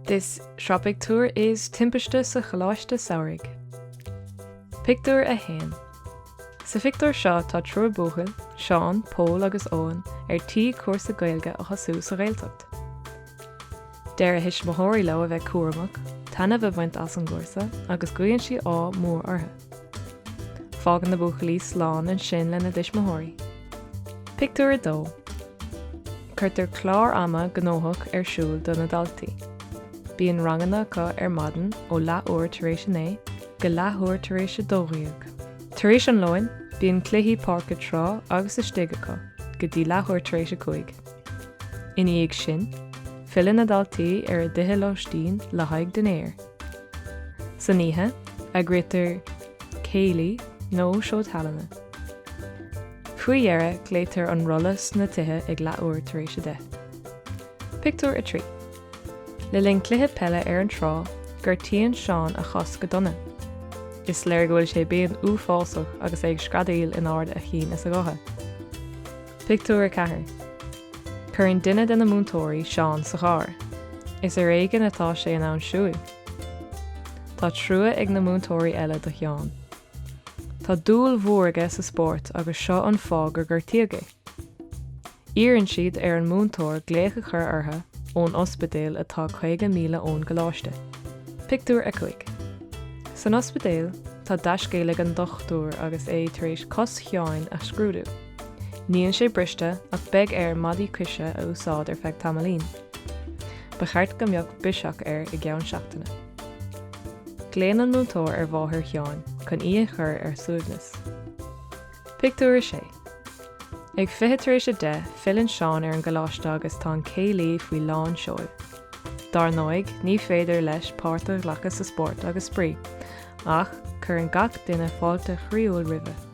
This Sraith Pictiúr is Timpiste sa Choláiste Samhraidh. Pictiúr 1 Sa phictiúr seo tá triúr buachaill, Seán, Pól agus Eoghan, ar tí cúrsa Gaeilge a thosú sa Ghaeltacht. Deir a dtuismitheoirí leo a bheith cúramach, taitneamh a bhaint as an gcúrsa agus guíonn siad ádh mór orthu. Fágann na buachaillí slán ansin lena dtuismitheoirí. Pictiúr 2. Cuirtear clár ama gnóthach ar siúl do na daltaí. Bíonn ranganna acu ar maidin ó leathuair tar éis a naoi go leathuair tar éis a dó dhéag. Tar éis an lóin, bíonn cluichí páirce, trá agus istigh acu go dtí leathuair tar éis a cúig. Ina dhiaidh sin, filleann na daltaí ar a dtithe lóistín le haghaidh dinnéir. San oíche, eagraítear céilí nó seó tallainne. Faoi dheireadh, glaoitear an rolla sna tithe ag leathuair tar éis a deich. Pictiúr 3 Le linn cluiche peile ar an trá, gortaíonn Seán a chos go dona. Is léir go bhfuil sé i bpian uafásach agus é ag screadaíl in ard a chinn is a ghutha. Pictiúr 4 Cuireann duine de na múinteoirí Seán sa charr. Is ar éigin atá sé in ann siúil. Tá trua ag na múinteoirí eile do Sheán. Tá dúil mhór aige sa spórt agus seo an fáth gur gortaíodh é. Iarrann siad ar an múinteoir glaoch a chur orthu ón ospidéal atá 50 míle ón gcoláiste. Pictiúr 5 San ospidéal tá deascéal ag an dochtúir agus é tar éis cos Sheáin a scrúdú. Níl sé briste ach beidh air maidí coise a úsáid ar feadh tamaillín. Ba cheart go mbeadh biseach air i gceann seachtaine. Glaonn an múinteoir ar mháthair Sheáin chun í a chur ar a suaimhneas. Pictiúr 6 Ag fiche tar éis a deich filleann Seán ar an gcoláiste agus tá an céilí faoi lán seoil. Dar ndóigh, ní féidir leis páirt a ghlacadh sa spórt agus spraoi, ach cuireann gach duine fáilte chroíúil roimhe.